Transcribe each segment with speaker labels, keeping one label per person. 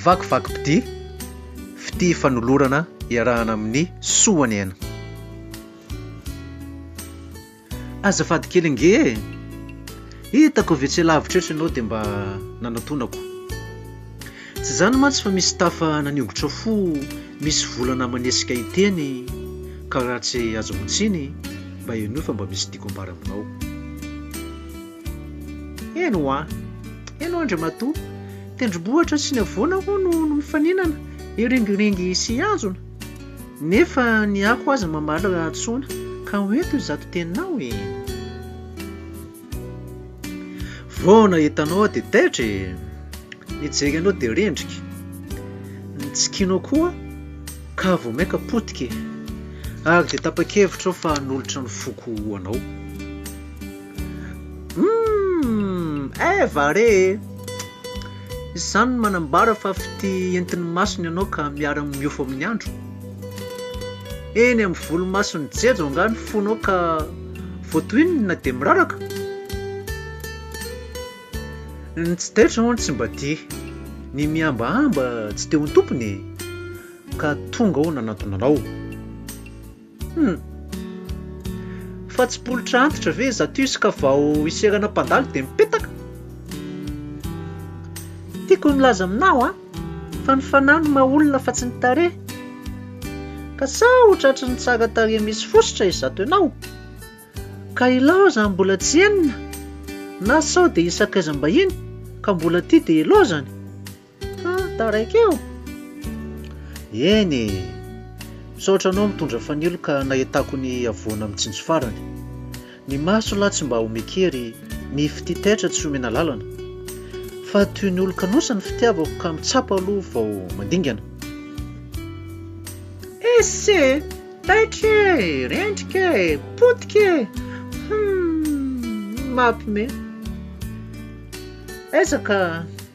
Speaker 1: Vakivakim-pitia, fitia fanolorana iarahana amin'ny soa ny aina. Azafady kely ange e! Hitako ve tsy lavitra eto ianao dia mba nanatonako. Tsy izany mantsy fa misy tafa naniongotra fo misy volana manesika hiteny ka raha tsy azonao tsiny mba henoy fa mba misy tiako ambara aminao. Eny hoa! Eny hoa Andriamatoa! Tendrombohitra sy ny havoana hoa no mifaninana, hiringiringy sy hihazona? Nefa ny ako aza mamaly rahatsoana, ka ho ento izato teninao e! Vao nahita anao aho dia taitra e! Nijery anao dia rendrika, nitsikinao koa ka vao mainka potika e! Ary dia tapa-kevitra aho fa hanolotra ny foko ho anao. Humm Eva re e! Izany no manambara fa fitia entin'ny masony ianao ka miara-miofo amin'ny andro? Eny amin'ny volomason'i Jejo angaha ny fonao ka voatohininy na dia miraraka? Ny tsy taitra hono tsy mba tia, ny mihambahamba tsy te ho tompony e! Ka tonga aho nanantona anao. Hum. Fa tsy polotra antitra ve zatus ka vao hiserana mpandalo dia mipetaka? Tiako ny milaza aminao an, fa ny fanahy no maha olona fa tsy ny tarehy. Ka sa ho tratry ny tsara tarehy misy fositra izato ianao? Ka ilaozany mbola tsy henona? Na sao dia hisakaizam-bahiny ka mbola tia dia ilaozany? Ka taraiky eo? Eny e! Misaotra anao mitondra fanilo ka nahitako ny havoana mitsinjo farany. Ny maso lahy tsy mba omeko hery, ny fitia taitra tsy omena lalana. Fa toy ny olon-kanosa ny fitiavako ka mitsapa aloha vao mandingana. Esse! Taitra e! Rendrika e! Potika e! Humm! Mapme! Aiza ka!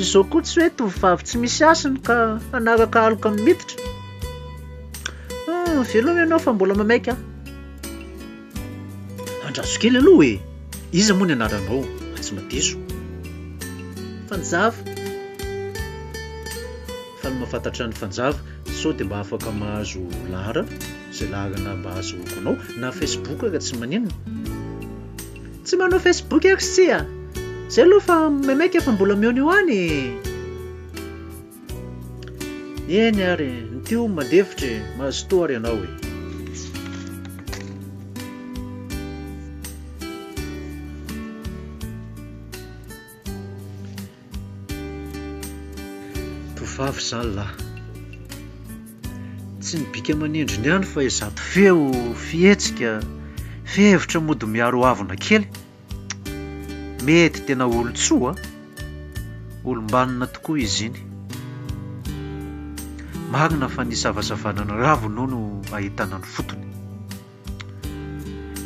Speaker 1: Izao koa tsy hoe tovovavy tsy misy hasiny ka hanaraka aloka amin'ny miditra. Ah, veloma ianao fa mbola mamaika ahy. Andraso kely aloha e, iza moa ny anaranao fa tsy madiso. Fanjava. Fa ny mahafantatra ny fanjava sao dia mba afaka mahazo laharana, izay laharana mba ahazoako anao na facebook ary tsy maninona. Tsy manao Facebook aho tsia. Zay aloha fa maimaika fa mbola mihaona eo any e! Eny ary e, ny tio mandefitra e, mazotoa ary ianao e. Tovovavy izaho lahy. Tsy ny bika aman'endriny ihany fa izato feo, fihetsika, fihevitra mody miaro havona kely. Mety tena olon-tsoa, olom-banona tokoa izy iny. Marina fa ny isavasavana ny raviny hono no ahitana ny fotony.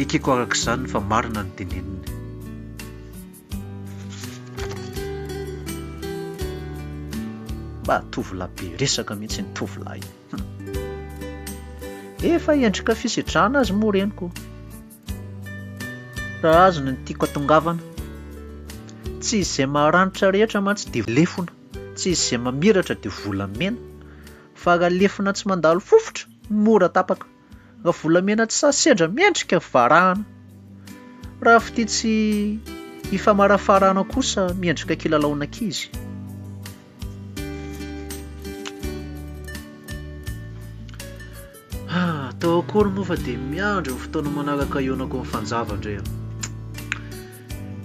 Speaker 1: Ekeko araka izany fa marina ny teneniny. Mba tovolahy be resaka mihitsy iny tovolahy iny. Hum. Efa endrika fisidrana azy moa reniko. Raha azy no tiako atongavana. Tsy izay maranitra rehetra mantsy dia lefona. Tsy izay mamiratra dia volamena. Fa raha lefona tsy mandalo fofotra, mora tapaka. Raha volamena tsy sahy sendra mendrika varahana. Raha fitia tsy hifamarafaraana kosa miendrika kilalaon'ankizy. Atao ah, akory moa fa dia miandry ny fotoana manaraka hionako amin'ny fanjava ndray aho.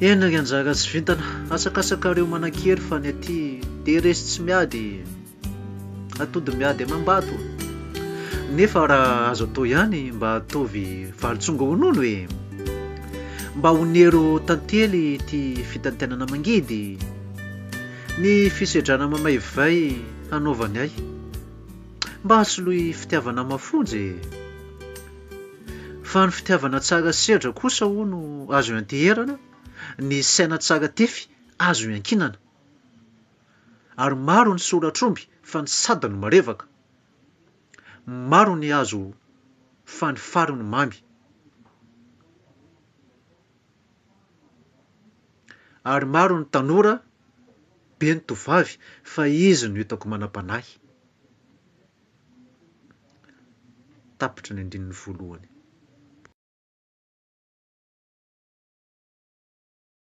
Speaker 1: Eny ry anjara tsy vintana, asakasakareo manan-kery fa ny aty dia resy tsy miady. Atody miady amam-bato. Nefa raha azo atao ihany mba ataovy vary tsonga honono e! Mba onero tantely ity fitantanana mangidy. Ny fisedrana mamaivay hanaovany ahy. Mba asoloy fitiavana mafonja e! Fa ny fitiavana tsara sedra kosa hono azo ianteherana, ny saina tsara tefy azo iankinana. Ary maro ny solatr'omby fa ny sady no marevaka. Maro ny hazo fa ny fary no mamy. Ary maro ny tanora be ny tovovavy fa izy no hitako manam-panahy. Tapitra ny andininy voalohany.